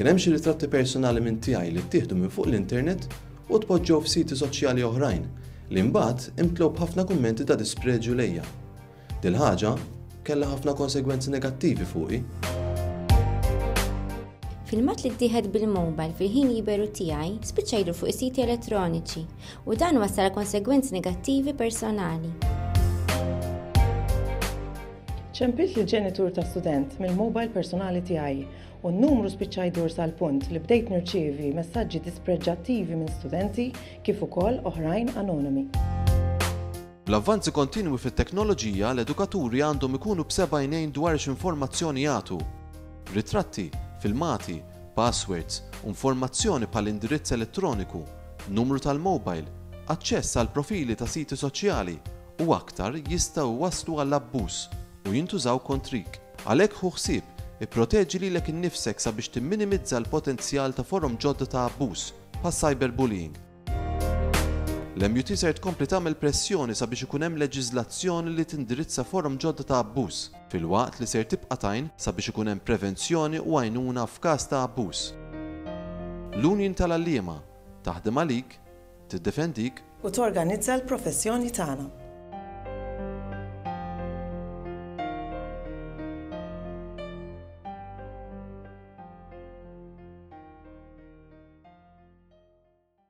Kien hemm xi ritratti personali minn tiegħi li ttieħdu minn fuq l-internet u tpoġġew f'siti soċjali oħrajn li mbagħad imtlew b'ħafna kummenti ta' dispreġju lejja. Dil-ħaġa kellha ħafna konsegwenzi negattivi fuqi. Filmat li ttieħed bil-mobile fil-ħin liberu tiegħi spiċċa jidru fuq is-siti elettroniċi u dan wassal konsegwenzi negattivi personali. Ċempilt li ġenitur ta' student mill-mobile personali tiegħi u n-numru spiċċa jdur sal-punt li bdejt nirċievi messaġġi dispreġġattivi minn studenti kif ukoll oħrajn anonimi. Bl-avvanzi kontinwi fit-teknoloġija, l-edukaturi għandhom ikunu b'seba' għajnejn dwar x'informazzjoni jagħtu. Ritratti, filmati, passwords, u informazzjoni bħal indirizz elettroniku, numru tal-mobile, aċċess għal profili ta' siti soċjali, u aktar jistgħu jwasslu għal abbuż u jintużaw kontrik. Għalhekk ħu ħsieb, ipproteġi lilek innifsek sabiex timminimizza l-potenzjal ta' forom ġodda ta' abbuż, bħaċ-cyberbullying. L-MUT ser tkompli tagħmel pressjoni sabiex ikun hemm leġiżlazzjoni li tindirizza forom ġodda ta' abbuż, filwaqt li ser tibqa' tgħin sabiex ikun hemm prevenzjoni u għajnuna f'każ ta' abbuż. L-Union tal-Għalliema, taħdem għalik, tiddefendik. U torganizza l-professjoni tagħna.